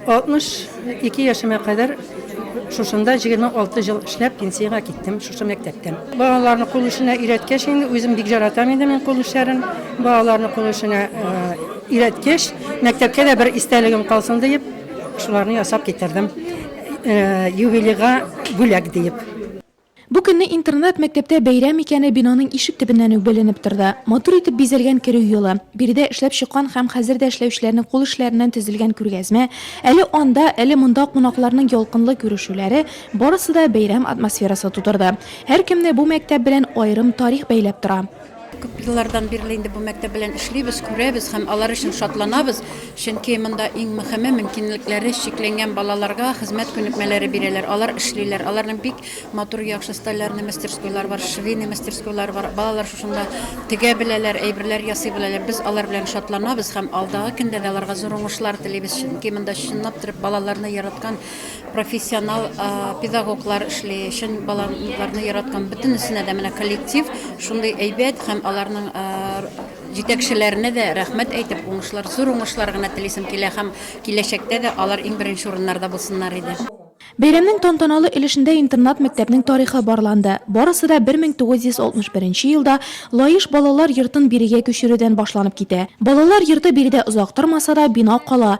62 яшемә кадәр шушында 26 ел эшләп пенсиягә киттем шушы мәктәптән. Балаларны кул эшенә өйрәткәч инде үзем бик жаратам инде мин кул эшләрен. Балаларны кул эшенә өйрәткәч, мәктәпкә дә бер истәлегем калсын диеп, шуларны ясап китердем. Юбилейга бүләк диеп. Бу көнне интернат мәктәптә бәйрәм икәне бинаның ишек төбеннән үк беленеп торды. Матур итеп бизәлгән керү юлы, биредә эшләп чыккан һәм хәзер дә эшләүчеләрнең кул эшләреннән төзелгән күргәзмә, әле анда, әле монда кунакларның ялкынлы күрешүләре, барысы да бәйрәм атмосферасы тудырды. Һәркемне бу мәктәп белән аерым тарих бәйләп тора. Күп еллардан бирле инде бу мәктәп белән эшлибез, күрәбез һәм алар өчен шатланабыз, чөнки монда иң мөхиме мөмкинлекләре чикләнгән балаларга хезмәт күнекмәләре бирәләр, алар эшлиләр, аларның бик матур яхшы столярный мастерскойлары бар, швейный мастерскойлары бар, балалар шушында тегә беләләр, әйберләр ясый беләләр, без алар белән шатланабыз һәм алдагы көндә дә аларга зур уңышлар телибез, чөнки монда чынлап торып балаларны яраткан профессионал педагоглар эшли, чын балаларны яраткан бөтенесенә дә менә коллектив шундый әйбәт һәм аларның җитәкчеләренә дә рәхмәт әйтеп, уңышлар, зур уңышлар гына телисем килә һәм киләчәктә дә алар иң беренче урыннарда булсыннар иде. Бәйрәмнең тантаналы өлешендә интернат-мәктәпнең тарихы барланды. Барысы да 1961 нче елда Лаеш балалар йортын бирегә күчерүдән башланып китә. Балалар йорты биредә озак тормаса да, бина кала,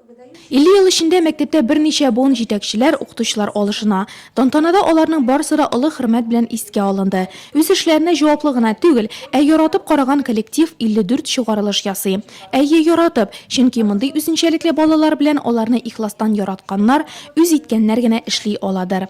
50 ел эчендә мәктәптә берничә буын җитәкчеләр, укытучылар алышына. Тантанада аларның барысы да олы хөрмәт белән искә алынды. Үз эшләренә җаваплы гына түгел, ә яратып караган коллектив 54 чыгарылыш ясый. Әйе, яратып, чөнки мондый үзенчәлекле балалар белән аларны ихластан яратканнар, үз иткәннәр генә эшли аладыр.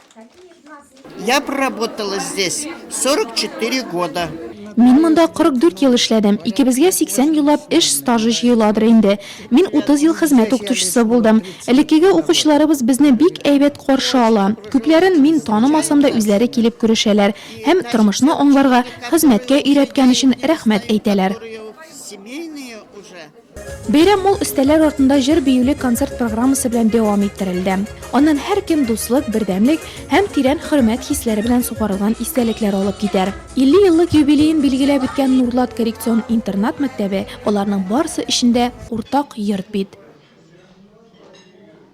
Я проработала здесь 44 года. Мин монда 44 ел эшләдем. Икебезгә 80 еллап эш стажы җыеладыр инде. Мин 30 ел хезмәт укытучысы булдым. Элеккеге укучыларыбыз безне бик әйбәт каршы ала. Күпләрен мин танымасам да үзләре килеп күрешәләр һәм тормышны аңларга, хезмәткә өйрәткән өчен рәхмәт әйтәләр. Бәйрәм мул өстәлләр артында җыр-биюле концерт программасы белән дәвам иттерелде. Аннан һәркем дуслык, бердәмлек һәм тирән хөрмәт хисләре белән сугарылган истәлекләр алып китәр. 50 еллык юбилеен билгеләп үткән Нурлат коррекцион интернат мәктәбе, аларның барысы өчен дә уртак йорт бит.